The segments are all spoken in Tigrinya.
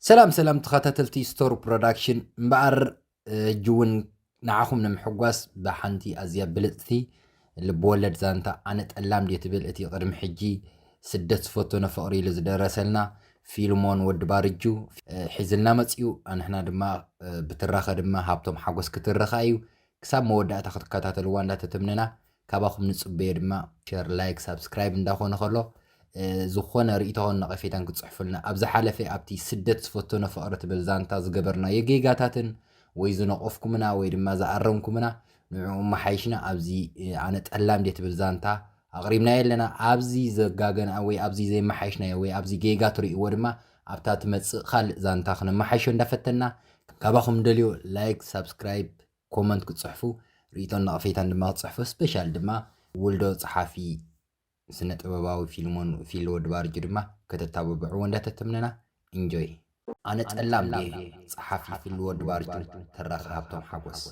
ሰላም ሰላም ተኸታተልቲ ስቶር ፕሮዳክሽን እምበኣር ሕጂ እውን ንዓኹም ንምሕጓስ ብሓንቲ ኣዝያ ብልፅቲ ልብወለድ ዛንታ ኣነ ጠላም ድየ ትብል እቲ ቅድሚ ሕጂ ስደት ዝፈቶ ነፍቕሪ ኢሉ ዝደረሰልና ፊልሞን ወዲ ባርጁ ሒዝልና መፅኡ ኣንሕና ድማ ብትራኸ ድማ ሃብቶም ሓጎስ ክትርኻ እዩ ክሳብ መወዳእታ ክትከታተልዋ እንዳተተምነና ካባኹም ንጽበዮ ድማ ሸር ላይክ ሳብስክራይብ እንዳ ኮነ ከሎ ዝኾነ ርእይቶን ነቐፌታን ክትጽሕፉልና ኣብ ዝሓለፈ ኣብቲ ስደት ዝፈተኖ ፍቕሪ ትብል ዛንታ ዝገበርናዮ ጌጋታትን ወይ ዝነቐፍኩምና ወይ ድማ ዝኣረምኩምና ንዕኡ መሓይሽና ኣብዚ ኣነ ጠላም ድየ ትብል ዛንታ ኣቕሪብናዮ ኣለና ኣብዚ ዘጋገና ወይ ኣብዚ ዘይመሓይሽናዮ ወይ ኣብዚ ጌጋ ትርእይዎ ድማ ኣብታ ትመጽእ ካልእ ዛንታ ክነመሓይሾ እንዳፈተና ካባኹም ደልዮ ላይክ ሳብስክራይብ ኮመንት ክትጽሕፉ ርኢቶን ነቐፌታን ድማ ክትጽሕፉ ስፔሻል ድማ ውልዶ ጸሓፊ ስነ ጥበባዊ ፊልሞን ፊል ወዲ ባርጁ ድማ ከተታብብዕዎ እንዳ ተተምነና ኢንጆይ። ኣነ ጠላም ድየ ጸሓፊ ፊል ወዲ ባርጁ ተራኺ ሃብቶም ሓጎስ።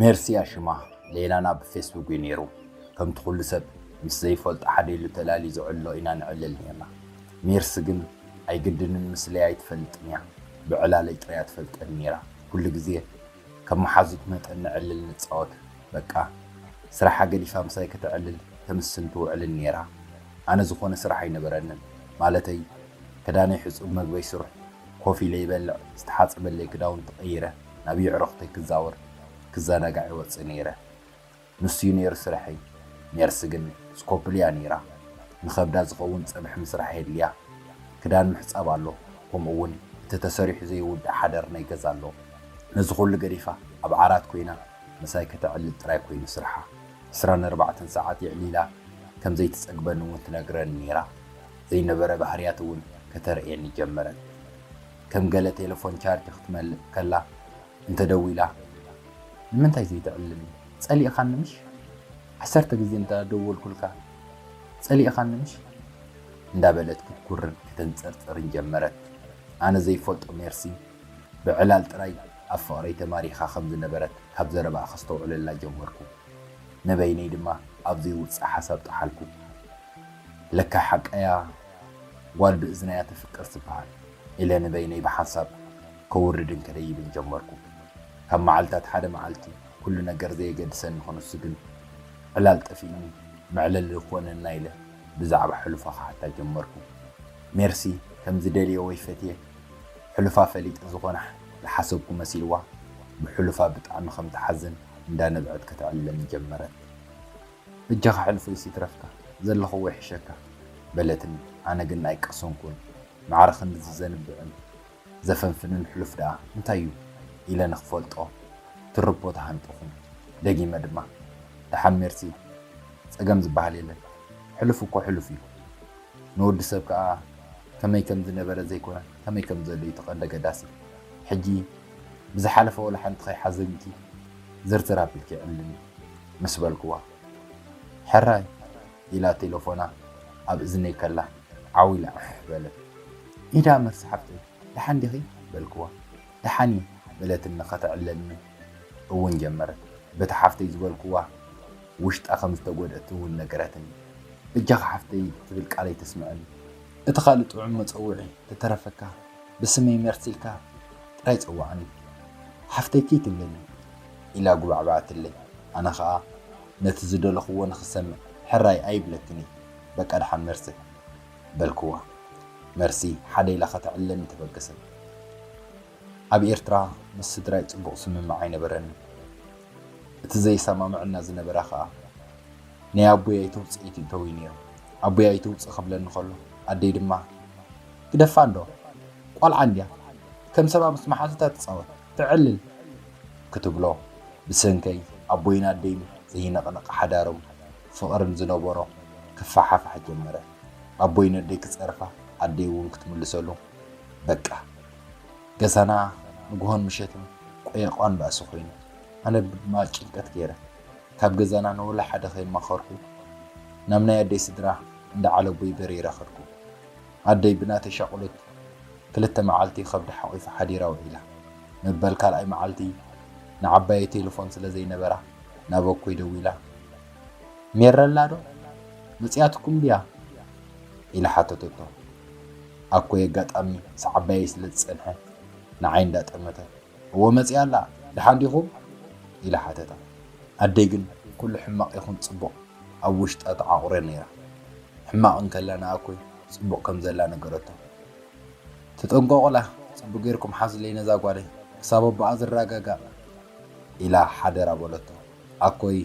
ሜርሲ ኣሽማ ሌላና ብፌስቡክ እዩ ኔሩ ከምቲ ኩሉ ሰብ ምስ ዘይፈልጦ ሓደ ኢሉ ተላልዩ ዝዕሎ ኢና ንዕልል ኔርና። ሜርሲ ግን ኣይግድንን ምስለይ ኣይትፈልጥን ኢያ ብዕላለይ ጥራያ ትፈልጠኒ ኔራ ኩሉ ግዜ ከም መሓዙት መጠን ንዕልል ንጻወት በቃ ስራሓ ገዲፋ ምሳይ ከተዕልል ተምስን ትውዕልን ኔራ ኣነ ዝኾነ ስራሕ ኣይነበረንን ማለተይ ክዳነይ ሕጹብ መግበይ ሱር ኮፍ ኢለ ይበልዕ ዝተሓጸበለይ ክዳውንቲ ቀይረ ናብ የዕሩኽተይ ክዛወር ክዛናጋዕ ይወጽእ ኔረ። ንሱ እዩ ነይሩ ስርሐይ። ነርስ ግን ስኮፕል እያ ነይራ። ንኸብዳ ዝኸውን ጸብሒ ምስራሕ የድልያ። ክዳን ምሕጻብ ኣሎ፣ ከምኡ'ውን እቲ ተሰሪሑ ዘይውዳእ ሓደር ናይ ገዛ ኣሎ። ነዚ ኹሉ ገዲፋ ኣብ ዓራት ኰይና ምሳይ ከተዕልል ጥራይ ኰይኑ ስርሓ። ዕስራን ኣርባዕተን ሰዓት የዕሊላ ከም ዘይትጸግበኒ'ውን ትነግረኒ ነይራ። ዘይነበረ ባህርያት'ውን ከተርእየኒ ጀመረት። ከም ገለ ቴለፎን ቻርጅ ክትመልእ ከላ እንተ ደዊላ ንምንታይ ዘይትዕልልኒ ጸሊእኻኒ ምሽ ዓሰርተ ግዜ እንተ ደወልኩልካ ጸሊእኻኒ ምሽ እንዳ በለት ክትጉርን ከተንጸርጽርን ጀመረት ኣነ ዘይፈልጦ ሜርሲ ብዕላል ጥራይ ኣብ ፍቕረይ ተማሪኻ ከም ዝነበረት ካብ ዘረባኣ ከስተውዕለላ ጀመርኩ ንበይነይ ድማ ኣብ ዘይውጽእ ሓሳብ ጠሓልኩ ለካ ሓቃያ ጓል ብእዝናያ ትፍቅር ትበሃል ኢለ ንበይነይ ብሓንሳብ ከውርድ እንከለይ ይብል ጀመርኩ። ካብ መዓልታት ሓደ መዓልቲ ኩሉ ነገር ዘየገድሰኒ ክንሱ ግን ዕላል ጠፊእኒ መዕለሊ ክኾነና ኢለ ብዛዕባ ሕሉፋ ክሓታ ጀመርኩ። ሜርሲ ከም ዝደልየ ወይ ፈትየ ሕሉፋ ፈሊጠ ዝኾናሕ ዝሓሰብኩ መሲልዋ ብሕሉፋ ብጣዕሚ ከም ትሓዝን እንዳ ነብዐት ከተዕልለኒ ጀመረት። በጃኻ ሕሉፈይስ ይትረፍካ ዘለኽዎ ይሕሸካ በለትኒ። ኣነ ግን ኣይቀሰንኩን ማዕረ ክንድዚ ዘንብዕን ዘፈንፍንን ሕሉፍ ደኣ እንታይ እዩ ኢለ ንኽፈልጦ ትርፖ ተሃንጠኹ። ደጊመ ድማ፣ ደሓን ሜርሲ፣ ጸገም ዝበሃል የለን። ሕሉፍ እኮ ሕሉፍ እዩ። ንወዲ ሰብ ከኣ ከመይ ከም ዝነበረ ዘይኮነ ከመይ ከም ዘሎ እዩ እቲ ቀንዲ ኣገዳሲ። ሕጂ ብዝሓለፈ ወላ ሓንቲ ከይሓዘንኪ ዝርዝር ኣቢልኪ ዕልልኒ ምስ በልኩዋ፣ ሕራይ! ኢላ ቴለፎና ኣብ እዝነይ ከላ ዓው ኢላ ዕሕ በለት። ኢዳ መር ሰሓብተይ። ደሓን ዲኺ? በልክዋ። ደሓን እየ በለትኒ ከተዕልለኒ እውን ጀመረት። በቲ ሓፍተይ ዝበልክዋ ውሽጣ ከም ዝተጎድኣት እውን ነገረትኒ። በጃኺ ሓፍተይ ትብል ቃለይ ተስምዐኒ። እቲ ካልእ ጥዑም መጸውዒ ተተረፈካ ብስመይ መርት ኢልካ ጥራይ ጸውዓኒ። ሓፍተይ ከይትብለኒ። ኢላ ጉባዕበዐትለይ። ኣነ ከኣ ነቲ ዝደለኹዎ ንኽሰምዕ ሕራይ ኣይብለክን እዩ። በቃ ደሓን መርሲ። በልኩዋ። መርሲ ሓደ ኢላ ከተዕልለኒ ተበገሰት። ኣብ ኤርትራ ምስ ስድራይ ጽቡቕ ስምምዕ ኣይነበረንን። እቲ ዘየሰማምዕና ዝነበረ ከኣ ናይ ኣቦይ ኣይተውጽኢ ትእተው እዩ ነይሩ። ኣቦይ ኣይተውጽእ ክብለኒ ከሎ ኣደይ ድማ ግደፋ እንዶ ቋልዓ እንድያ ከም ሰባ ምስ መሓዙታ ትጻወት፣ ተዕልል፣ ክትብሎ ብሰንከይ ኣቦይን ኣደይን ዘይንቕነቕ ሓዳርም ፍቕርን ዝነበሮ ክፈሓፋሕ ጀመረ። ኣቦይ ነደይ ክጸርፋ ኣደይ እውን ክትምልሰሉ በቃ ገዛና ንግሆን ምሸትን ቆየቋን ባእሲ ኮይኑ ኣነ ድማ ጭንቀት ገይረ ካብ ገዛና ንወላ ሓደ ከይማኸርኩ ናብ ናይ ኣደይ ስድራ እንዳ ዓለቦይ በሪረ ከድኩ። ኣደይ ብናተይ ሻቑሊት ክልተ መዓልቲ ከብዳ ሓቒፋ ሓዲራ ውዒላ። መበል ካልኣይ መዓልቲ ንዓባየይ ቴለፎን ስለ ዘይነበራ ናብ ኣኮይ ደዊላ፣ ሜረላዶ መጺኣትኩም ድያ? ኢላ ሓተተቶ። ኣኮይ ኣጋጣሚ ምስ ዓባየይ ስለ ዝጸንሐ ንዓይ እንዳጠመተት፣ እወ መጺኣ ኣላ፣ ደሓን ዲኹም? ኢላ ሓተታ። ኣደይ ግን ኩሉ ሕማቕ ይኹን ጽቡቕ ኣብ ውሽጣ ተዓቝረ ነይራ። ሕማቕ እንከላ ንኣኮይ ጽቡቕ ከም ዘላ ነገረቶ። ተጠንቀቑላ፣ ጽቡቕ ጌርኩም ሓዙለይ ነዛ ጓለይ፣ ክሳብ ኣቦኣ ዝረጋጋእ፣ ኢላ ሓደራ በለቶ። ኣኮይ፣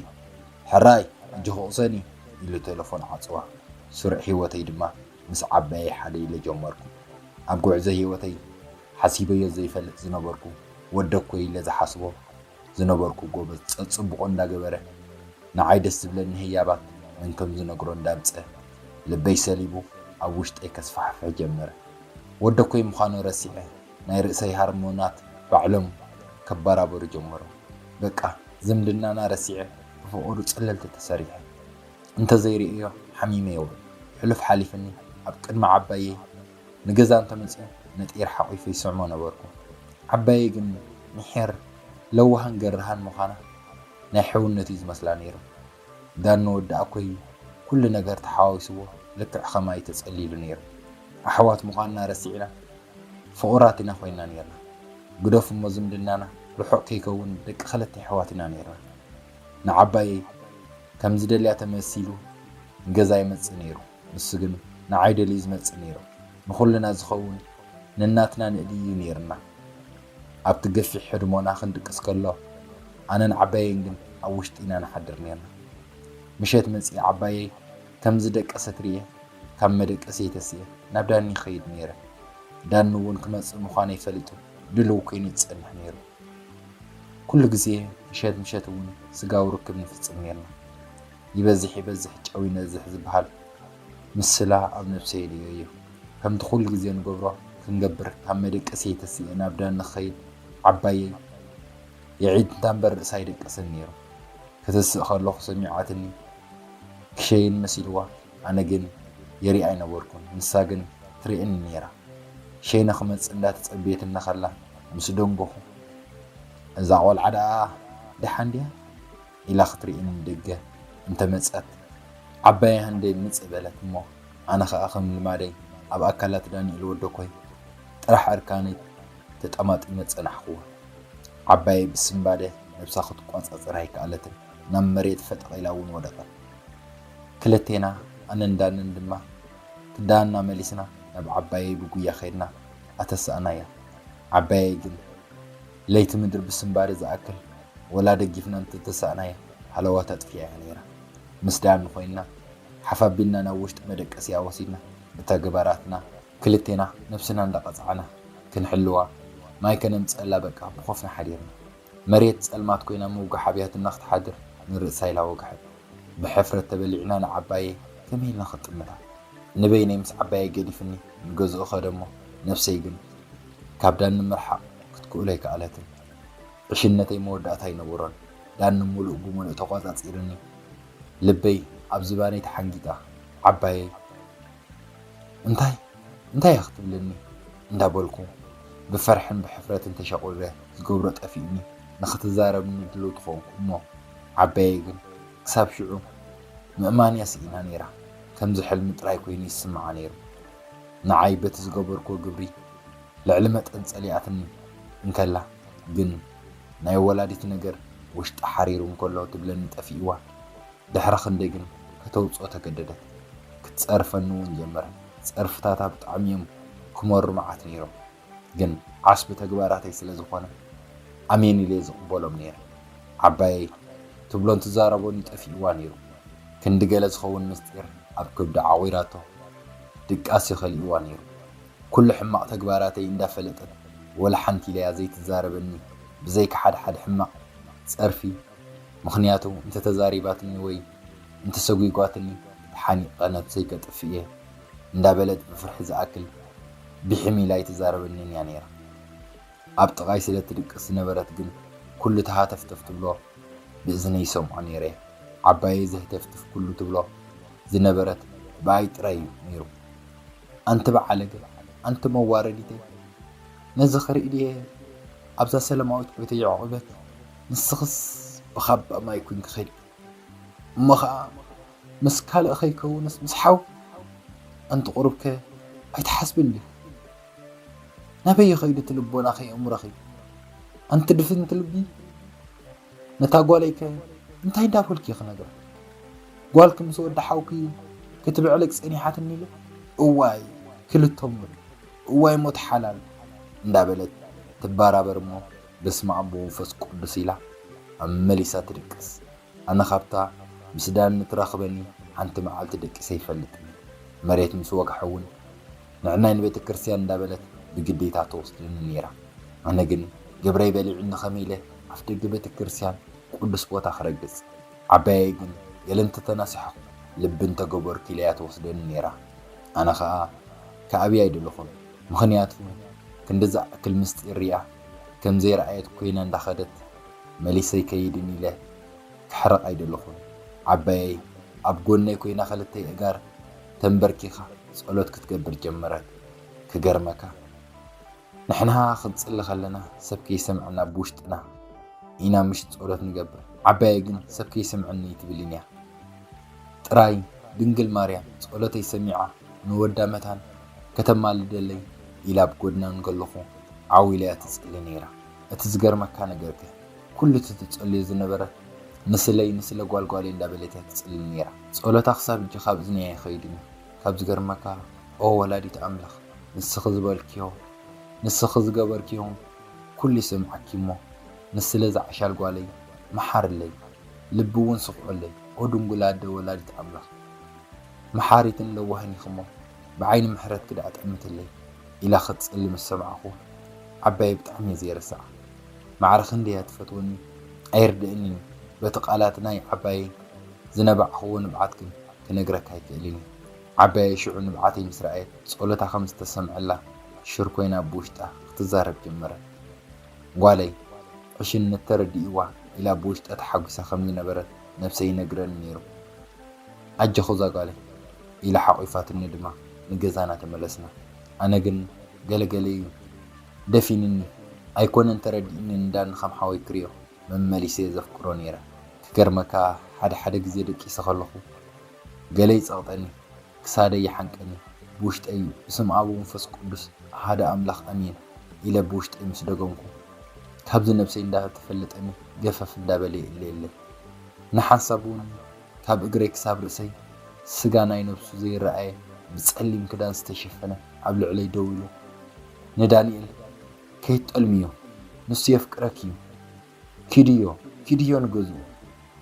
ሕራይ ኣጆኺ ቅሰኒ፣ ኢሉ ተለፎን ዓጽዋ። ስሩዕ ህይወተይ ድማ ምስ ዓባየይ ሓደ ኢለ ጀመርኩ። ኣብ ጉዕዞ ህይወተይ ሓሲበዮ ዘይፈልጥ ዝነበርኩ ወደ እኮ ኢለ ዝሓስቦ ዝነበርኩ ጎበዝ ጸጽቡቆ እንዳ ገበረ ንዓይ ደስ ዝብለኒ ህያባት ነንከም ዝነግሮ እንዳ ኣምጸ ልበይ ሰሊቡ ኣብ ውሽጠይ ከስፋሕፍሕ ጀመረ ወደ እኮይ ምኻኑ ረሲዐ ናይ ርእሰይ ሃርሞናት ባዕሎም ከባራበሩ ጀመሩ በቃ ዝምድናና ረሲዐ ብፍቅሩ ጸለልቲ ተሰሪሐ እንተ ዘይርእዮ ሓሚመ የውዕል ሕሉፍ ሓሊፍኒ ኣብ ቅድሚ ዓባየይ ንገዛ እንተ መጺኡ ነጢር ሓቚፉ ይስዕሞ ነበርኩ። ዓባየይ ግን ሚሒር፣ ለዋህን ገራህን ምዃና ናይ ሕውነት እዩ ዝመስላ ነይሩ። ዳን ንወዲኣኮይ ኩሉ ነገር ተሓዋዊስዎ ልክዕ ከማይ ተጸሊሉ ነይሩ። ኣሕዋት ምዃንና ረሲዕና ፍቑራት ኢና ኮይንና ነይርና። ግደፉ እሞ ዝምድናና ርሑቕ ከይከውን ደቂ ክልተ ኣሕዋት ኢና ነይርና። ንዓባየይ ከም ዝደልያ ተመሲሉ ንገዛ ይመጽእ ነይሩ። ንሱ ግን ንዓይ ደልዩ ዝመጽእ ነይሩ። ንኹልና ዝኸውን ነናትና ንእልይ እዩ ነይሩና። ኣብቲ ገፊሕ ህድሞና ክንድቅስ ከሎ ኣነን ዓባየይን ግን ኣብ ውሽጢ ኢና ንሓድር ነይርና። ምሸት መጺኣ ዓባየይ ከም ዝደቀሰት ርእየ ካብ መደቀሲየይ ተሲኤ ናብ ዳኒ ይኸይድ ነይረ። ዳኒ እውን ክመጽእ ምዃነይ ፈሊጡ ድልው ኮይኑ ዝጸንሕ ነይሩ። ኩሉ ግዜ ምሸት ምሸት እውን ስጋዊ ርክብ ንፍጽም ነይርና። ይበዝሕ ይበዝሕ ጨው ይነዝሕ ዝበሃል ምስላ ኣብ ነብሰይ ርእየዮ። ከምቲ ኩሉ ግዜ ንገብሮ ክንገብር ካብ መደቀሲየይ ተሲኤ ናብ ዳኒ ክኸይድ ዓባየይ የዒንታ እምበር ርእሳ ኣይደቀሰን ነይሩ። ከተስእ ከለኹ ሰሚዓትኒ ክሸይን መሲልዋ ኣነ ግን ይሪኣ ኣይነበርኩን ንሳ ግን ትርእየኒ ነይራ። ሸይነ ክመጽእ እንዳተጸበየትኒ ከላ ምስ ደንጎኹ እዛ ቆልዓ ደኣ ደሓን ድያ? ኢላ ክትርኢ ንደገ እንተ መጸት፣ ዓባየይ ሃንደይ ምጽእ በለት እሞ፣ ኣነ ኸኣ ከም ልማደይ ኣብ ኣካላት ዳንኤል ወደኮይ ጥራሕ ዕርካነይ ተጠማጢመ ጸናሕኩዋ። ዓባየይ ብስንባደ ነብሳ ክትቆጻጸር ኣይከኣለትን፣ ናብ መሬት ፈጠቕ ኢላ እውን ወደቐት። ክልቴና ኣነን ዳንን ድማ ክዳንና መሊስና ናብ ዓባየይ ብጉያ ከድና ኣተሳእናያ። ዓባየይ ግን። ለይቲ ምድሪ ብስንባደ ዝኣክል ወላ ደጊፍና እንተተሳእናያ ሃለዋት ኣጥፊኣያ ነይራ። ምስ ዳኒ ኮይንና ሓፋቢልና ናብ ውሽጢ መደቀሲኣ ወሲድና ብተግባራትና ክልቴና ነብስና እንዳቐጻዕና ክንሕልዋ ማይ ከነምጸኣላ በቃ ብኾፍና ሓዲርና። መሬት ጸልማት ኮይና ምውጋሕ ኣብያትና ክትሓድር ንርእሳ ኢላ ወግሐት። ብሕፍረት ተበሊዕና ንዓባየይ ከመይ ኢልና ክንጥምታ? ንበይነይ ምስ ዓባየይ ገዲፍኒ ንገዝኡ ከደ'ሞ ነፍሰይ ግን ካብ ዳኒ ምርሓቕ ክትክእሎ ኣይከኣለትን። ዕሽነተይ መወዳእታ ኣይነበሮን። ዳኒ ምሉእ ብምሉእ ተቖጻጺሩኒ። ልበይ ኣብ ዝባነይ ተሓንጊጣ ዓባየይ እንታይ እንታይ እያ ክትብለኒ እንዳበልኩ ብፍርሕን ብሕፍረትን ተሸቝሪረ ዝገብሮ ጠፊኡኒ ንኽትዛረብኒ ድልውቲ ኾንኩ እሞ ዓባየይ ግን ክሳብ ሽዑ ምእማን'ያ ስኢና ነይራ። ከምዚ ሕልሚ ጥራይ ኮይኑ ይስምዓ ነይሩ። ንዓይ በቲ ዝገበርክዎ ግብሪ ልዕሊ መጠን ጸሊኣትኒ እንከላ ግን ናይ ወላዲት ነገር ውሽጣ ሓሪሩ እንከሎ ትብለኒ ጠፊእዋ። ድሕሪ ክንደይ ግን ከተውጽኦ ተገደደት። ክትጸርፈኒ'ውን ጀመረት። ጸርፍታታ ብጣዕሚ'ዮም ክመሩ መዓት ነይሮም። ግን ዓስቢ ተግባራተይ ስለ ዝኾነ ኣሜን ኢለ ዝቕበሎም ነይረ። ዓባየይ ትብሎን ትዛረቦን'ዩ ጠፊእዋ ነይሩ። ክንዲ ገለ ዝኸውን ምስጢር ኣብ ከብዳ ዓቚራቶ ድቃስ'ዩ ከሊእዋ ነይሩ። ኩሉ ሕማቕ ተግባራተይ እንዳ ፈለጠት ወላ ሓንቲ ኢለያ ዘይትዛረበኒ ብዘይካ ሓደ ሓደ ሕማቕ ጸርፊ ምኽንያቱ እንተ ተዛሪባትኒ ወይ እንተሰጒጓትኒ ተሓኒቐ ነብሰይ ከጥፍእ እየ እንዳበለት ብፍርሒ ዝኣክል ብሒም ኢላ ኣይትዛረበንን እያ ነይራ። ኣብ ጥቓይ ስለ ትድቅስ ዝነበረት ግን ኩሉ እቲ ሃተፍተፍ ትብሎ ብእዝነይ ይሰምዖ ነይረ እየ። ዓባየይ ዘህተፍትፍ ኩሉ ትብሎ ዝነበረት ብኣይ ጥራይ እዩ ነይሩ። ኣንቲ በዓለገ፣ ኣንቲ መዋረዲተይ፣ ነዚ ክርኢ ድየ ኣብዛ ሰለማዊት ቤተይ ዑቕበት፣ ንስኽስ ብኻባ ማይ ኩንኪ ኺዲ። እሞ ኸኣ ምስ ካልእ ከይከውንስ ምስ ሓው? ኣንቲ ቁሩብከ ኣይትሓስብን ዲኺ? ናበይ ይኸይድ እቲ ልቦናኺ ኣእምሮኺ? ኣንቲ ድፍንቲ ልቢ ነታ ጓለይከ እንታይ እንዳበልኩ'የ ክነግራ? ጓልኪ ምስ ወዲ ሓውኪ ክትብዕልቅ ጸኒሓትኒ ኢለ እዋይ ክልተሙን እዋይ ሞት ሓላል እንዳበለት ትባራበር እሞ በስመኣብ ብመንፈስ ቁዱስ ኢላ ኣመሊሳ ትድቅስ ኣነ ካብታ ምስ ዳኒ ትረክበኒ ሓንቲ መዓልቲ ደቂሰ ኣይፈልጥን መሬት ምስ ወግሐ እውን ንዕናይ ንቤተክርስትያን እንዳበለት ብግዴታ ትወስደኒ ነይራ ኣነ ግን ግብረይ በሊዑኒ ከመይ ኢለ ኣፍደገ ቤተክርስትያን ቁዱስ ቦታ ክረግፅ ዓባየይ ግን ገለ እንተተናሲሐኩ ልቢ እንተገበርኩ ኢለያ ትወስደኒ ነይራ ኣነ ከዓ ክኣብያ ኣይደለኩን ምክንያቱ ክንዲ ዝኣክል ምስጢር እያ ከም ዘይረኣየት ኮይና እንዳኸደት መሊሰ ኣይከይድን ኢለ ከሕርቕ ኣይደለኹን ዓባየይ ኣብ ጎነይ ኮይና ክልተ የእጋር ተምበርኪኻ ጸሎት ክትገብር ጀመረት ክገርመካ ንሕና ክንጽሊ ከለና ሰብ ከይሰምዐና ብውሽጥና ኢና ምሽ ጸሎት ንገብር ዓባየይ ግን ሰብ ከይሰምዐኒ ኣይትብልን እያ ጥራይ ድንግል ማርያም ጸሎተይ ሰሚዓ ንወዳ መታን ከተማልደለይ ኢላ ኣብ ጎድና እንከለኹ ዓው ኢላ'ያ ትጽሊ ነይራ። እቲ ዝገርመካ ነገር'ከ ኩሉ እቲ ትጸልዮ ዝነበረት ንስለይ ንስለ ጓል ጓለይ እንዳበለት'ያ ትጽሊ ነይራ። ጸሎታ ክሳብ ሕጂ ካብ እዝነይ ኣይኸይድን'ዩ። ካብ ዝገርመካ ኦ ወላዲት ኣምላኽ ንስኺ ዝበልክዮ ንስኺ ዝገበርክዮ ኩሉ ይሰምዓኪ'ሞ ንስለ እዛ ዓሻል ጓለይ መሓርለይ ልቢ'ውን ስኽዑለይ ኦ ድንጉል ኣደ ወላዲት ኣምላኽ መሓሪትን ለዋህን ኢኺ'ሞ ብዓይኒ ምሕረትኪ ደኣ ጠምትለይ ኢላ ክትጽሊ ምስ ሰማዕኩ ዓባየይ ብጣዕሚ እየ ዘይርስዓ። ማዕረ ክንደይ እያ ትፈትወኒ ኣይርድእን እዩ፣ በቲ ቃላት ናይ ዓባየይ ዝነባዕክዎ ንብዓት ግን ክነግረካ ኣይክእልን እየ። ዓባየይ ሽዑ ንብዓተይ ምስ ረኣየት ጸሎታ ከም ዝተሰምዐላ ሽር ኮይና ብውሽጣ ክትዛረብ ጀመረት። ጓለይ ዕሽነት ተረዲእዋ ኢላ ብውሽጣ ተሓጒሳ ከም ዝነበረት ነብሰይ ይነግረኒ ነይሩ። ኣጀኹ ዛጓለይ! ኢላ ሓቚፋትኒ ድማ ንገዛና ተመለስና። ኣነ ግን ገለ ገለ'ዩ ደፊንኒ። ኣይኮነን ተረዲእኒ እንዳ ንከም ሓወይ ክሪኦ መመሊሰ'የ ዘፍቅሮ ነይረ። ክገርመካ ሓደ ሓደ ግዜ ደቂሰ ከለኹ ገለ ይጸቕጠኒ፣ ክሳደይ ይሓንቀኒ ብውሽጠይ'ዩ። ብስም ኣብ ወንፈስ ቅዱስ ኣሃደ ኣምላኽ ኣሜን ኢለ ብውሽጠይ ምስ ደገምኩ ካብዚ ነብሰይ እንዳ ተፈለጠኒ ገፈፍ እንዳ በለ'የ እለየለይ። ንሓንሳብ'ውን ካብ እግረይ ክሳብ ርእሰይ ስጋ ናይ ነብሱ ዘይረኣየ ብጸሊም ክዳን ዝተሸፈነ ኣብ ልዕለይ ደው ኢሉ ንዳኒኤል ከይትጠልምዮ ንሱ የፍቅረኪ እዩ ኪድዮ ኪድዮ ንገዝኡ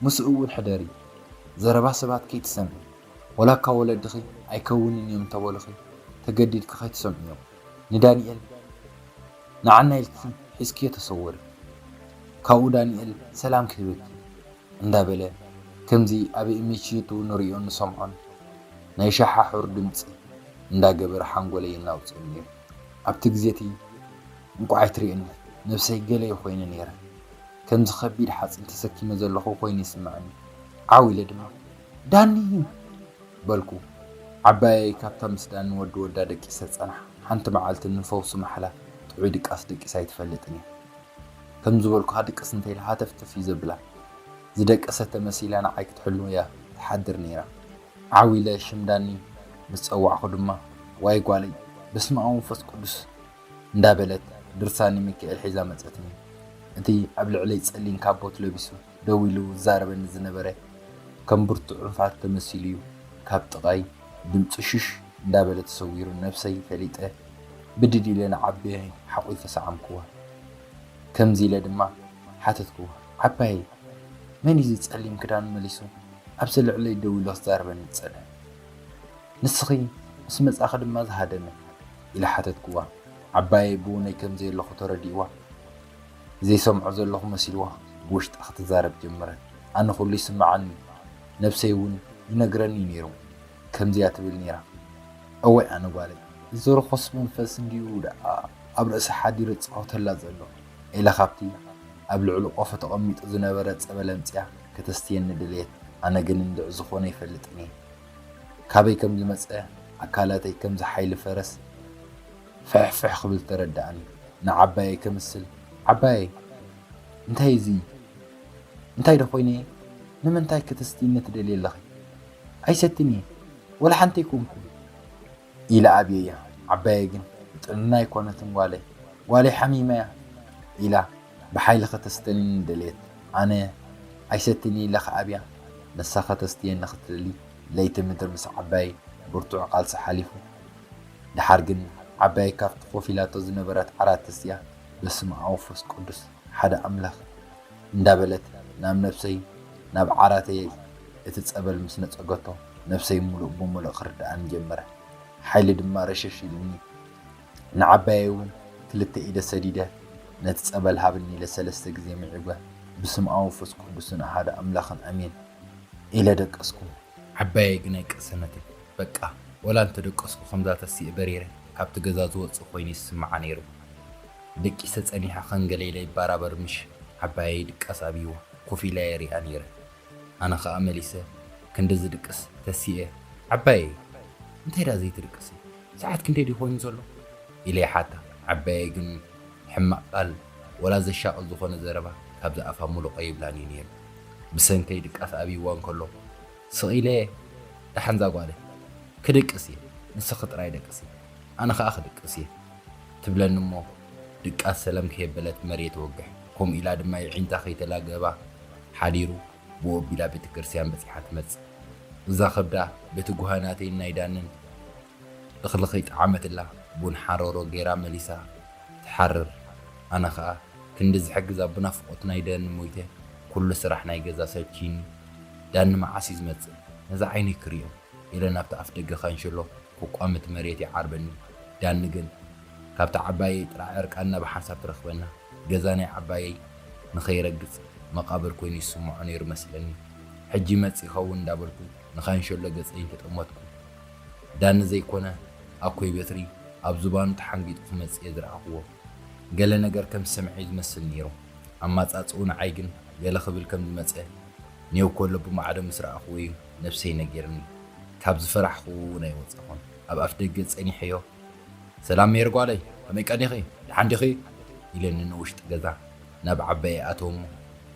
ምስኡ እውን ሕደሪ ዘረባ ሰባት ከይትሰምዒ ወላ እካ ወለድኺ ኣይከውንን እዮም እንተበሉኺ ተገዲድኪ ከይትሰምዕዮ ንዳኒኤል ንዓና ኢልኪ ሒዝክዮ ተሰወሪ ካብኡ ዳኒኤል ሰላም ክህበኪ እዩ እንዳበለ ከምዚ ኣብ እሚቺዩቱ ንሪኦን ንሰምዖን ናይ ሻሓሑር ድምጺ እንዳገበረ ሓንጎለይ የናውጸኒ ኔሩ ኣብቲ ግዜቲ እንቋዕ ኣይትሪእኒ ነብሰይ ገለይ ኮይነ ኔረ ከምዚ ከቢድ ሓጺን ተሰኪመ ዘለኹ ኮይኑ ይስምዐኒ ዓው ኢለ ድማ ዳኒ በልኩ ዓባየይ ካብታ ምስ ዳኒ ወዲ ወዳ ደቂሰ ዝጸንሓ ሓንቲ መዓልቲ ንፈውሲ ማሕላ ጥዑይ ድቃስ ደቂሰ ኣይትፈልጥን እያ ከም ዝበልኩኻ ድቅስ እንተ ኢላ ሃተፍተፍ እዩ ዘብላ። ዝደቀሰት ተመሲላ ንዓይ ክትሕሉ እያ ትሓድር ነይራ። ዓው ኢለ ሽም ዳኒ ምስ ጸዋዕኩ ድማ ዋይ ጓለይ በስመኣብ ወመንፈስ ቅዱስ እንዳ በለት ድርሳን ሚካኤል ሒዛ መጸትኒ። እቲ ኣብ ልዕለይ ጸሊም ካቦት ለቢሱ ደው ኢሉ ዝዛረበኒ ዝነበረ ከም ብርቱዕ ርፋት ተመሲሉ'ዩ ካብ ጥቓይ ድምጹ ሽሽ እንዳበለ ተሰዊሩ ነብሰይ ፈሊጠ ብድድ ኢለ ንዓበየ ሓቝፈ ሰዓምክዋ ከምዚ ኢለ ድማ ሓተትክዋ ዓባየይ መን'ዩ እዚ ጸሊም ክዳኑ መሊሱ ኣብዚ ልዕለይ ደው ኢሉ ክዛረበኒ ዝጸንሐ ንስኺ ምስ መጻኺ ድማ ዝሃደመ ኢለ ሓተትክዋ ዓባየይ ብውነይ ከምዘየለኹ ተረዲእዋ ዘይሰምዖ ዘለኹ መሲልዋ ብውሽጣ ክትዛረብ ጀመረት። ኣነ ኩሉ ይስመዓኒ እዩ፣ ነብሰይ እውን ይነግረኒ እዩ ነይሩ። ከምዚ'ያ ትብል ነይራ፣ እዋይ ኣነ ጓለይ፣ እዚ ርኹስ መንፈስ እንድዩ ደኣ ኣብ ርእሳ ሓዲሩ ዝጻወተላ ዘሎ፣ ኢላ ካብቲ ኣብ ልዕሊ ቆፎ ተቐሚጡ ዝነበረ ጸበል ኣምጺኣ ከተስትየኒ ደለየት። ኣነ ግን እንድዒ ዝኾነ ኣይፈልጥን እየ። ካበይ ከም ዝመጸ ኣካላተይ ከምዚ ሓይሊ ፈረስ። ፍሕፍሕ ክብል ተረደኣኒ ንዓባየይ ከምስል ዓባየይ እንታይ እዚ እንታይ ዶ ኮይነ እየ ንምንታይ ክትስትይኒ ትደልይ ኣለኺ ኣይሰትን እየ ወላ ሓንቲ ኣይኮንኩን ኢለ ኣብየያ ዓባየይ ግን ጥንና ኣይኮነትን ጓለይ ጓለይ ሓሚማ እያ ኢላ ብሓይሊ ከተስተንኒ ደልየት ኣነ ኣይሰትን ኢለ ክኣብያ ንሳ ከተስትየኒ ክትደሊ ለይቲ ምድሪ ምስ ዓባየይ ብርቱዕ ቃልሲ ሓሊፉ ደሓር ግን ዓባይ ካብቲ ኮፍ ኢላቶ ዝነበረት ዓራት ተሲኣ በስመኣብ ወፍስ ቅዱስ ሓደ ኣምላክ እንዳበለት ናብ ነብሰይ ናብ ዓራተይ እቲ ጸበል ምስ ነጸገቶ ነብሰይ ምሉእ ብምሉእ ክርድኣኒ ጀመረ ሓይሊ ድማ ረሸሽ ኢሉኒ ንዓባየይ ውን ክልተ ኢደ ሰዲደ ነቲ ጸበል ሃብኒ ኢለ ሰለስተ ግዜ ምዒጉ ብስምኣብ ወፍስ ቅዱስን ኣሃዱ ኣምላክን ኣሜን ኢለ ደቀስኩ ዓባየይ ግናይ ቅሰነተይ በቃ ወላ እንተደቀስኩ ከምዛ ተሲኤ በሪረ ካብቲ ገዛ ዝወጽእ ኮይኑ ይስምዓ ነይሩ ደቂሰ ጸኒሐ ከም ገለ ኢለ ይባራበር ምሽ ዓባየይ ድቃስ ኣብይዋ ኮፍ ኢለ የሪኣ ነይረ ኣነ ከኣ መሊሰ ክንዲ ዝድቅስ ተሲኤ ዓባየይ እንታይ ደኣ ዘይትድቅሲ ሰዓት ክንደይ ድዩ ኮይኑ ዘሎ ኢለ ይሓታ ዓባየይ ግን ሕማቅ ቃል ወላ ዘሻቅል ዝኮነ ዘረባ ካብዚ ኣፋ ሙሉቀ ይብላን እዩ ነይሩ ብሰንከይ ድቃስ ኣብይዋ እንከለኩ ስቅ ኢለ እየ ዳሓን ዛጓለ ክድቅስ እየ ንስኪ ጥራይ ደቅሲ ኣነ ከኣ ክድቅስ እየ ትብለኒ እሞ ድቃስ ሰለም ከየበለት መርየት ወግሕ ኮምኡ ኢላ ድማ የዒንታ ከይተላገባ ሓዲሩ ብኡ ኣቢላ ቤተክርስትያን በጺሓ ትመጽእ እዛ ከብዳ በቲ ጉሃናተይን ናይ ዳንን እኽሊ ከይጠዓመትላ ቡን ሓሮሮ ገይራ መሊሳ ትሓርር ኣነ ከኣ ክንዲ ዝሕግዛ ብናፍቆት ናይ ደኒ ሞይተ ኩሉ ስራሕ ናይ ገዛ ሰልቺይኒ ዳኒ መዓስ እዩ ዝመጽእ ነዛ ዓይነይ ክሪኦ ኢለ ናብቲ ኣፍደገ ካንሸሎ ክቋምት መሬት ይዓርበኒ ዳኒ ግን ካብታ ዓባየይ ጥራዕ ዕርቃንና ብሓንሳብ ትረኽበና ገዛ ናይ ዓባየይ ንኸይረግጽ መቃብር ኮይኑ ይስምዖ ነይሩ መስለኒ ሕጂ ይመጽእ ይኸውን እንዳበልኩ ንካንሸሎ ገጸይ እንተጠመትኩ ዳኒ ዘይኮነ ኣኮይ በትሪ ኣብ ዝባኑ ተሓንጊጡ ክመጽእ እየ ዝረኣኽዎ። ገለ ነገር ከም ዝሰምዐ እዩ ዝመስል ነይሩ። ኣማጻጽእኡ ንዓይ ግን ገለ ክብል ከም ዝመጸ ኔው ከሎ ብማዕዶ ምስ ረኣኽዎ እዩ ነብሰይ ነጊርኒ። ካብ ዝፈራሕኽዎ እውን ኣይወጻኹን። ኣብ ኣፍደገ ጸኒሐዮ። ሰላም ሜሪ ጓለይ ከመይ ቀኒኺ? ደሓን ዲኺ? ኢለኒ ንውሽጢ ገዛ ናብ ዓባየይ ኣተወ'ሞ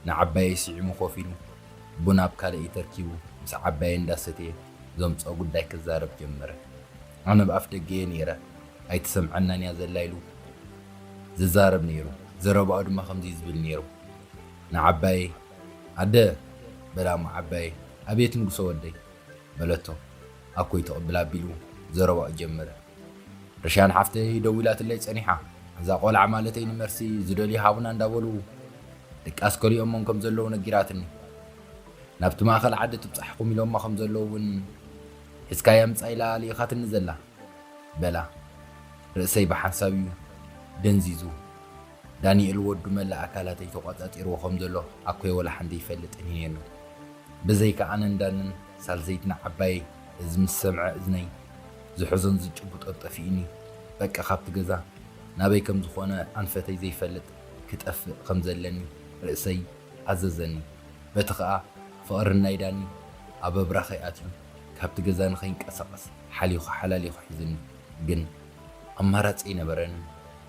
ንዓባየይ ስዒሙ ኮፍ ኢሉ ቡን ኣብ ካልእ ኢድ ተርኪቡ ምስ ዓባየይ እንዳሰትየ ዘምጽኦ ጉዳይ ክዛረብ ጀመረ። ኣነ ብ ኣፍደገ'የ ነይረ ኣይትሰምዐናን እያ ዘላ ኢሉ ዝዛረብ ነይሩ። ዘረባኡ ድማ ከምዚ ዝብል ነይሩ ንዓባየይ ኣደ በላ'ሞ ዓባየይ ኣቤት ንጉሰ ወደይ በለቶ ኣኮይ ትቕብል ኣቢሉ ዘረባኡ ጀመረ። ርሽያን ሓፍተይ ደዊላትለይ ጸኒሓ እዛ ቆልዓ ማለተይ ንመርሲ ዝደልዩ ሃቡና እንዳበሉ ድቃስ ከሊኦሞም ከም ዘለዉ ነጊራትኒ። ናብቲ ማእከል ዓዲ ትብጻሕኹም ኢሎማ ከም ዘለዉ እውን ሒዝካያ ምጻእ ኢላ ልኢኻትኒ ዘላ በላ። ርእሰይ ብሓንሳብ እዩ ደንዚዙ። ዳኒኤል ወዱ መላእ ኣካላተይ ተቖጻጺርዎ ከም ዘሎ ኣኮይ ወላ ሓንቲ ይፈልጥን እዩ ነይሩ። ብዘይካ ኣነን ዳንን ሳልሰይትና ዓባየይ እዚ ምስ ሰምዐ እዝነይ ዝሕዞን ዝጭብጦን ጠፊኡኒ በቃ ካብቲ ገዛ ናበይ ከም ዝኾነ ኣንፈተይ ዘይፈልጥ ክጠፍእ ከም ዘለኒ ርእሰይ ኣዘዘኒ በቲ ከኣ ፍቕሪ ናይ ዳኒ ኣብ ኣብራኸይ ኣትዩ ካብቲ ገዛ ንኸይንቀሳቐስ ሓሊኹ ሓላሊኹ ሒዙኒ ግን ኣማራጺ ኣይነበረንን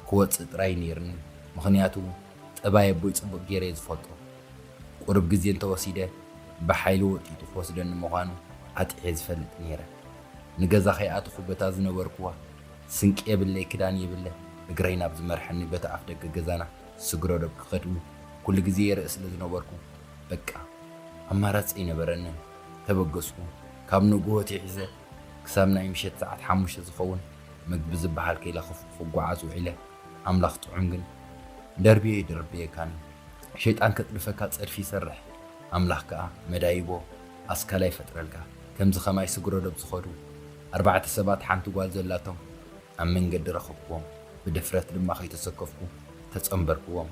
ክወጽእ ጥራይ ኔርኒ ምኽንያቱ ጠባይ ኣቦይ ጽቡቕ ገይረ እየ ዝፈልጦ። ቁሩብ ግዜ እንተ ወሲደ ብሓይሊ ወጢጡ ክወስደኒ ምዃኑ ኣጥዕየ ዝፈልጥ ነይረ። ንገዛ ከይኣተኹ በታ ዝነበርኩዋ ስንቂ የብለይ ክዳን የብለ እግረይ ናብ ዝመርሐኒ በቲ ኣፍደገ ገዛና ስግረዶብ ክኸድ'ውን ኩሉ ግዜ ይርእ ስለ ዝነበርኩ በቃ ኣማራጺ ኣይነበረንን። ተበገስኩ። ካብ ንግሆ ኣትሒዘ ክሳብ ናይ ምሸት ሰዓት ሓሙሽተ ዝኸውን ምግቢ ዝበሃል ከይለኸፍኩ ክጓዓዝ ውዒለ። ኣምላኽ ጥዑም ግን ደርብየ ኣይደርብየካን ሸይጣን ከጽድፈካ ጸድፊ ይሰርሕ ኣምላኽ ከኣ መዳይቦ ኣስካላ ይፈጥረልካ ከምዚ ከማይ ስግረዶብ ዝኸዱ ኣርባዕተ ሰባት ሓንቲ ጓል ዘላቶም ኣብ መንገዲ ረኸብክዎም ብድፍረት ድማ ከይተሰከፍኩ ተጸንበርክዎም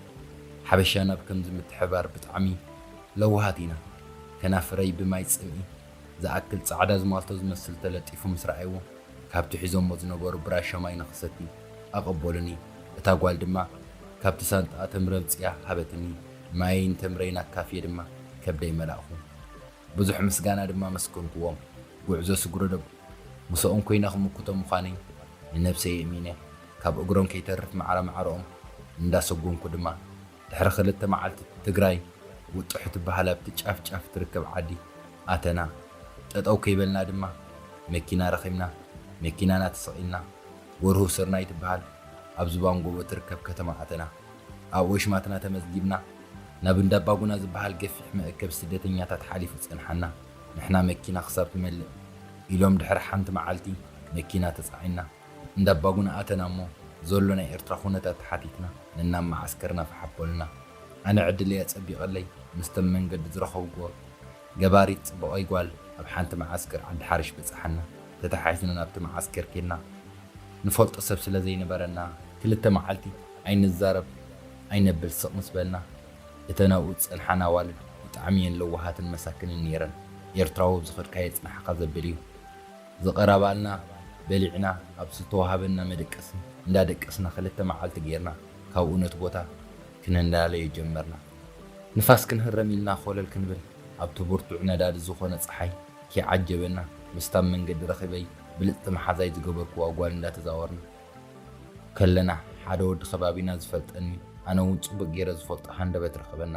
ሓበሻና ብ ከምዚ ምትሕብባር ብጣዕሚ ለዋሃት ኢና ከናፍረይ ብማይ ጽምኢ ዝኣክል ጻዕዳ ዝማልቶ ዝመስል ተለጢፉ ምስ ረኣይዎ፣ ካብቲ ሒዞሞ ዝነበሩ ብራሻ ማይ ንኽሰቲ ኣቐበሉኒ፣ እታ ጓል ድማ ካብቲ ሳንጣኣ ተምሪ ኣምጺኣ ሃበትኒ፣ ማየይ ንተምረይን ኣካፍየ ድማ ከብደይ መላእኩ። ብዙሕ ምስጋና ድማ ኣመስገንኩዎም። ጉዕዞ ስግረዶብ ምሰኦም ኮይነ ክምክቶ ምዃነይ ንነብሰይ የእሚነ፣ ካብ እግሮም ከይተርፍ ማዕረ ማዕረኦም እንዳሰጎምኩ ድማ ድሕሪ ክልተ መዓልቲ ትግራይ ውጥሑ ትበሃል ኣብቲ ጫፍ ጫፍ ትርከብ ዓዲ ኣተና። ጠጠው ከይበልና ድማ መኪና ረኺብና መኪናና ተሰቒልና ጎርሁ ስርናይ ትበሃል ኣብ ዝባን ጎቦ ትርከብ ከተማ ኣተና። ኣብኡ ኣሽማትና ተመዝጊብና። ናብ እንዳ ኣባጉና ዝበሃል ገፊሕ መእከቢ ስደተኛታት ሓሊፉ ጸንሓና ንሕና መኪና ክሳብ ትመልእ ኢሎም ድሕሪ ሓንቲ መዓልቲ መኪና ተጻዒንና። እንዳ ኣባጉና ኣተና እሞ ዞሎ ናይ ኤርትራ ኩነታት ተሓቲትና ነናብ መዓስከርና ፋሕ ኣበሉና። ኣነ ዕድለይ ኣጸቢቀለይ ምስቶም መንገዲ ዝረኸብኩዎ ገባሪት ጽቡቀይ ጓል ኣብ ሓንቲ መዓስከር ዓዲ ሓርሽ በጻሓና። ተታሓሒዝና ናብቲ መዓስከር ኬድና ንፈልጦ ሰብ ስለ ዘይነበረና ክልተ መዓልቲ ኣይንዛረብ ኣይነብል ስቅ ምስ በልና እተን ኣብኡ ዝጸንሓን ኣዋልድ ብጣዕሚ እየን ለዋሃትን መሳክንን ኔረን። ኤርትራዊ ኣብ ዝኸድካዮ የጽንሓካ ዘብል እዩ። ዝቐረባልና በሊዕና ኣብ ዝተወሃበና መደቀሲ እንዳ ደቀስና ክልተ መዓልቲ ጌርና ካብኡ ነቲ ቦታ ክነዳልዮ ጀመርና። ንፋስ ክንህረም ኢልና ኮለል ክንብል ኣብቲ ብርቱዕ ነዳዲ ዝኾነ ጸሓይ ክይዓጀበና ምስታ ኣብ መንገዲ ረኺበይ ብልጽቲ መሓዛይ ዝገበርክዋ ጓል እንዳ ተዛወርና ከለና ሓደ ወዲ ከባቢና ዝፈልጠኒ ኣነ ውን ጽቡቕ ጌረ ዝፈልጦ ሃንደበት ረኸበና።